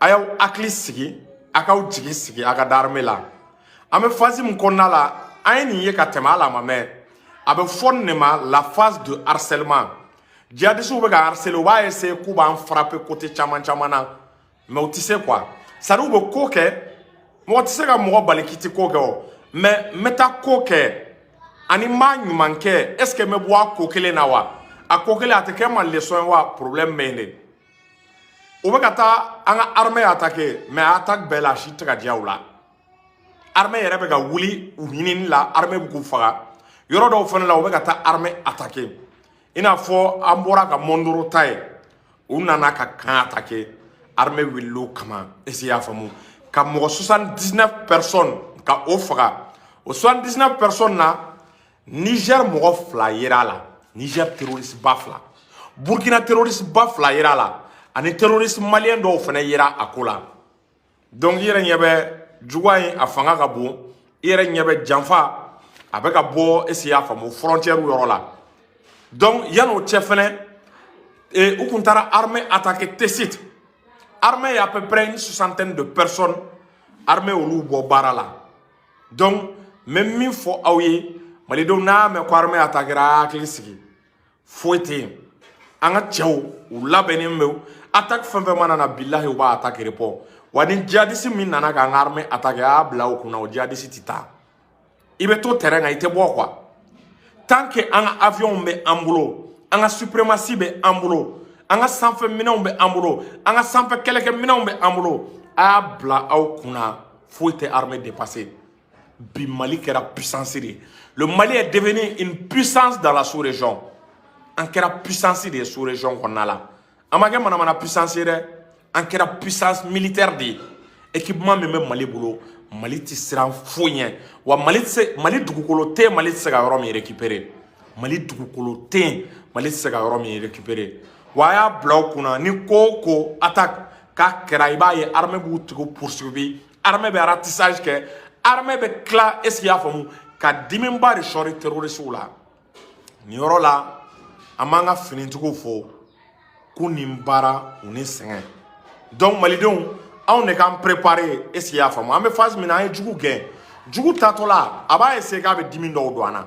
a y'aw hakili sigi a k'aw jigi sigi a ka da armée la an bɛ phase min kɔnɔna la an ye nin ye ka tɛmɛ ala ma mɛn a bɛ fɔ nin de ma la phase de harcèlement jihadisiw bɛ ka harceler u b'a essayer k'u b'an frapper côté caman caman na mais u tɛ se quoi c'est à dire u bɛ ko kɛ mɔgɔ tɛ se ka mɔgɔ bali k'i tɛ ko kɛ o mais n bɛ taa ko kɛ ani n b'a ɲuman kɛ est ce que n bɛ bɔ a ko kelen na wa a ko kelen a tɛ kɛ n ma leçon ye wa problème bɛ yen de o bɛ ka taa an ka armée attaquer mais a attaque bɛɛ la a si tɛ ka diya u la armée yɛrɛ bɛ ka wuli u ɲinini la armée bɛ k'u faga yɔrɔ dɔw fana la u bɛ ka taa armée attaquer i n'a fɔ an bɔra ka mɔndoro ta ye u nana ka camp attaquer armée wulila o kama est-ce que i y'a faamu ka mɔgɔ 79 personnes ka o faga o 79 personnes na Niger mɔgɔ fila yera a la Niger terroriste ba fila Burkina terroriste ba fila yera a la ani terroriste malien dɔw fana yera a ko la donc i yɛrɛ ɲɛ bɛ juguya in a fanga ka bon i yɛrɛ ɲɛ bɛ janfa a bɛ ka bɔ est-ce i y'a faamu frontière yɔrɔ la donc yan'o cɛ fɛnɛ e, u kun taara armée attaquer Tessit armée ye à peu près une soixantaine de personnes armée olu bɔ baara la donc n bɛ min fɔ aw ye malidenw n'a mɛn ko armée attaquera hakili sigi foyi tɛ yen an ka cɛw u labɛnnen bɛ attaque fɛn fɛn mana na bilahi u b'a attaque répond wa ni jihadisi min nana k'an ka armée attaquer a y'a bila aw kunna o jihadisi tɛ taa i bɛ to terrain kan i tɛ bɔ quoi tant que an ka avion bɛ an bolo an ka suprématie bɛ an bolo an ka sanfɛ minɛnw bɛ an bolo an ka sanfɛ kɛlɛkɛ minɛnw bɛ an bolo a y'a bila aw kunna foyi tɛ armée dépasser bi Mali kɛra puissance de ye le Mali est devenu une puissance dans la sous-région an kɛra puissance de ye sous-région kɔnɔna la an ma kɛ manamana puissance ye dɛ an kɛra puissance militaire de ye équipement min bɛ Mali bolo Mali tɛ siran foyi ɲɛ wa Mali tɛ se Mali dugukolo tɛ yen Mali tɛ se ka yɔrɔ min récupérer Mali dugukolo tɛ yen Mali tɛ se ka yɔrɔ min récupérer wa a y'a bila aw kunna ni ko o ko attaque k'a kɛra i b'a ye armée b'u tigiw poursuivre armée bɛ ratissage kɛ armée bɛ tila est-ce que i y'a faamu ka dimiba de sɔri terroristiw la nin yɔrɔ la an b'an ka finitigiw fo k'u ni baara u ni sɛgɛn donc malidenw anw de k'an préparer est ce que i y'a faamu an bɛ phase min na an ye jugu gɛn jugu taatɔla a b'a essayer k'a bɛ dimi dɔw don an na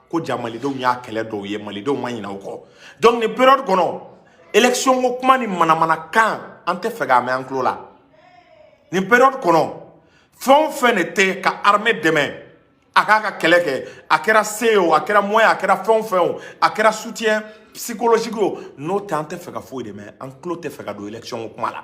ko ja malidenw y'a kɛlɛ dɔw ye malidenw ma ɲinɛ o kɔ donc nin période kɔnɔ élection ko kuma ni manamanakan an tɛ fɛ k'a mɛn an tulo la nin période kɔnɔ fɛn o fɛn de tɛ ka armée dɛmɛ a k'a ka kɛlɛ kɛ a kɛra se ye o a kɛra moyen a kɛra fɛn o fɛn o a kɛra soutien psychologique o n'o tɛ an tɛ fɛ ka foyi de mɛn an tulo tɛ fɛ ka don élection ko kuma la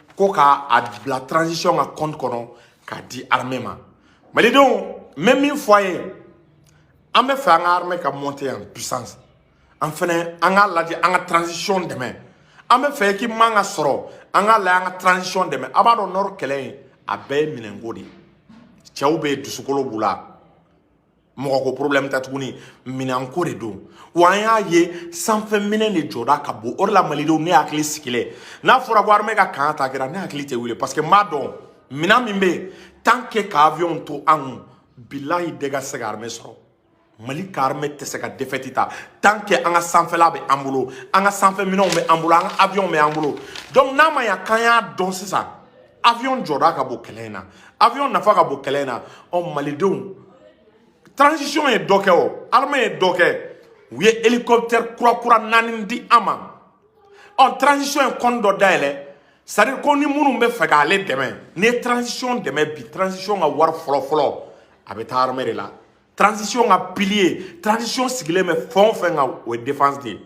ko ka a bila transition ka compte kɔnɔ k'a di armée ma malidenw n bɛ min fɔ a ye an bɛ fɛ an ka armée ka monter en puissance an fɛnɛ an k'a lajɛ an ka transition dɛmɛ an bɛ fɛ équipement ka sɔrɔ an k'a lajɛ an ka transition dɛmɛ a b'a dɔn nord kɛlɛ in a bɛɛ ye minɛnko de ye cɛw bɛ yen dusukolo b'u la mɔgɔko problème tɛ tuguni minɛnko de don wa an y'a ye sanfɛ minɛn de jɔda ka bon o de la malidenw ne hakili sigilen n'a fɔra ko armée ka camp attaquéra ne hakili tɛ wuli parce que n b'a dɔn minɛn min bɛ yen tant que ka avion to an kun bilahi dégât tɛ se ka armée sɔrɔ mali ka armée tɛ se ka défaite ta tant que an ka sanfɛla bɛ an bolo an ka sanfɛ minɛnw bɛ an bolo an ka avion bɛ an bolo donc n'a ma ɲa k'an y'a dɔn sisan avion jɔda ka bon kɛlɛ in na avion nafa ka bon kɛlɛ in na ɔ malidenw transition ye dɔ kɛ armée ye dɔ kɛ u ye hélicoptère kura kura naani di an ma ɔ transition ye kɔnti dɔ dayɛlɛ c'est à dire ko ni minnu bɛ fɛ k'ale dɛmɛ n'i ye transition dɛmɛ bi transition ka wari fɔlɔ fɔlɔ a bɛ taa armée de la transition ka pilier transition sigilen bɛ fɛn o fɛn kan o ye défense de ye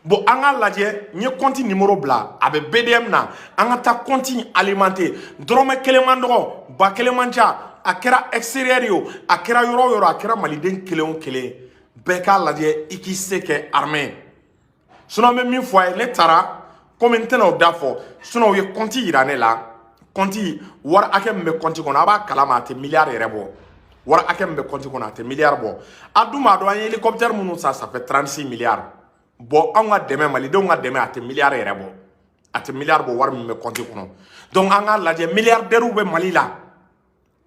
bon an k'a lajɛ n ye kɔnti nimoro bila a bɛ BDM na an ka taa kɔnti alimante dɔrɔmɛ kelen man dɔgɔ ba kelen man ca a kɛra extérieur ye o a kɛra yɔrɔ o yɔrɔ a kɛra maliden kelen o kelen bɛɛ k'a lajɛ i k'i se kɛ armée sinɔn n bɛ min fɔ a ye ne taara komi n tɛna o da fɔ sinɔn u ye kɔnti yira ne la kɔnti wari hakɛ min bɛ kɔnti kɔnɔ a b'a kalama a tɛ miliyari yɛrɛ bɔ wari hakɛ min bɛ kɔnti kɔnɔ a tɛ miliyari bɔ a dun b'a dɔn an ye helicoptère minnu san ça fait 36 miliyari bɔn anw ka dɛmɛ malidenw ka dɛmɛ a tɛ miliyari yɛrɛ bɔ a tɛ miliyari bɔ wari min bɛ kɔnti kɔnɔ donc an k'a lajɛ miliyardɛriw bɛ mali la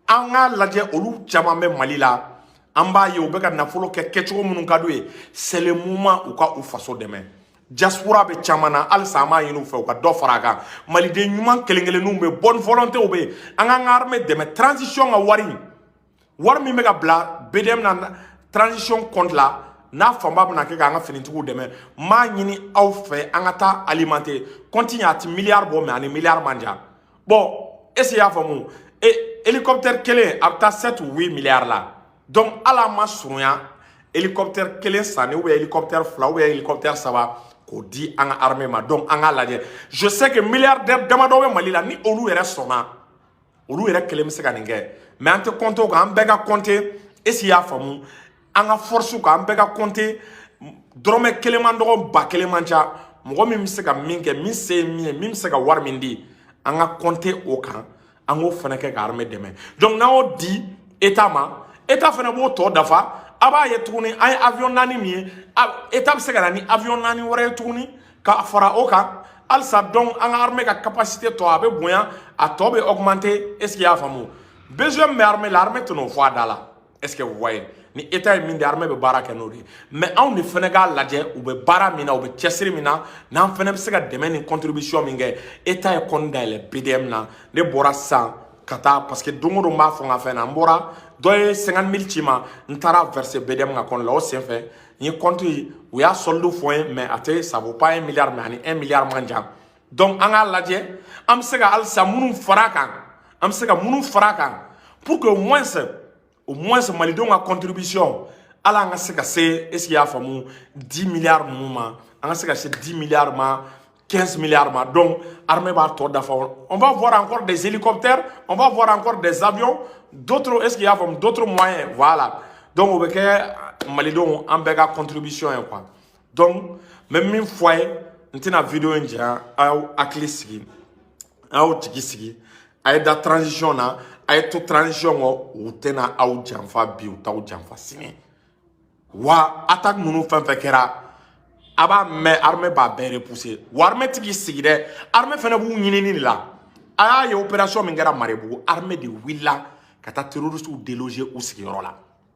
an k'a lajɛ olu caman bɛ mali la an b'a ye u bɛ ka nafolo kɛ kɛcogo minnu ka d'u ye seulement u ka u faso dɛmɛ diaspora bɛ caman na halisa an b'a ɲini u fɛ u ka dɔ fara a kan maliden ɲuman kelen kelenninw bɛ bonne volontéw bɛ yen an k'an ka armée dɛmɛ transition ka wari wari min bɛ ka bila BDM na transition compte la n'a fanba bɛna kɛ k'an ka finitigiw dɛmɛ m'a ɲini aw fɛ an ka taa alimante compte in a tɛ miliyari bɔ mais a ni miliyari man jan bɔn est-ce i y'a faamu e helicoptère kelen a bɛ taa sept huit milliards la donc hali an ma surunya helicoptère kelen sanni ou bien helicoptère fila ou bien helicoptère saba k'o di an ka armée ma donc an k'a lajɛ je sais que milliardaire damadɔ bɛ mali la ni olu yɛrɛ sɔnna olu yɛrɛ kelen bɛ se ka nin kɛ mais an tɛ compter o kan an bɛ ka compter est-ce i y'a faamu an ka fɔrisiw kan an bɛɛ ka kɔnte dɔrɔmɛ kelen man dɔgɔ ba kelen man ca mɔgɔ min bɛ se ka min kɛ min se ye min ye min bɛ se ka wari min di an ka kɔnte o kan an k'o fana kɛ ka armée dɛmɛ donc n'an y'o di état ma état fana b'o tɔ dafa a b'a ye tuguni an ye avion naani min ye état bɛ se ka na ni avion naani wɛrɛ ye tuguni ka fara o kan halisa donc an ka armée ka capacité tɔ a bɛ bonya a tɔ bɛ augmenter est ce que i y'a faamu besoin min bɛ armée la armée tɛn'o fɔ a da la. est-ce que vous voyez ni état ye min di armée bɛ baara kɛ n'o de ye mais anw de fana k'a lajɛ u bɛ baara min na u bɛ cɛsiri min na n'an fana bɛ se ka dɛmɛ ni contribution min kɛ état ye compte dayɛlɛ BDM na ne bɔra sisan ka taa parce que don o don n b'a fɔ n ka fɛn na n bɔra dɔ ye 50 mille ci n ma n taara verser BDM ka compte la o senfɛ n ye compte u y'a solde fɔ n ye mais a tɛ ça vaut pas un milliard mais a ni un milliard man jan donc an k'a lajɛ an bɛ se ka halisa minnu fara a kan an bɛ se ka minnu fara a kan pour que au moins au moins malidenw ka contribution a la an ka se ka se est ce que y'a faamu 10 milliards ninnu ma an ka se ka se 10 milliards ma 15 milliards ma donc armée b'a tɔ dafa on va voir encore des hélicoptères on va voir encore des avions d'autres est ce que y'a faamu d'autres moyens voilà donc o bɛ kɛ malidenw an bɛɛ ka contribution ye quoi donc n bɛ min fɔ a ye n tɛna video in janya a y'aw hakili sigi a y'aw jigi sigi a ye da transition na a ye to transition kɔ u tɛna aw janfa bi u t'aw janfa sini wa attaque ninnu fɛn fɛn kɛra a b'a mɛn armée b'a bɛɛ repousser wa armée ti k'i sigi dɛ armée fɛnɛ b'u ɲinini de la a y'a ye opération min kɛra marebugu armée de wulila ka taa terroristiw déloger u sigiyɔrɔ la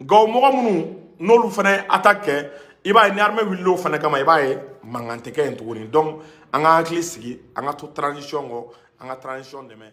nka o mɔgɔ minnu n'olu fana ye attaque kɛ i b'a ye ni armée wulila o fana kama i b'a ye mankan tɛ kɛ yen tuguni donc an k'an hakili sigi an ka to transition kɔ an ka transition dɛmɛ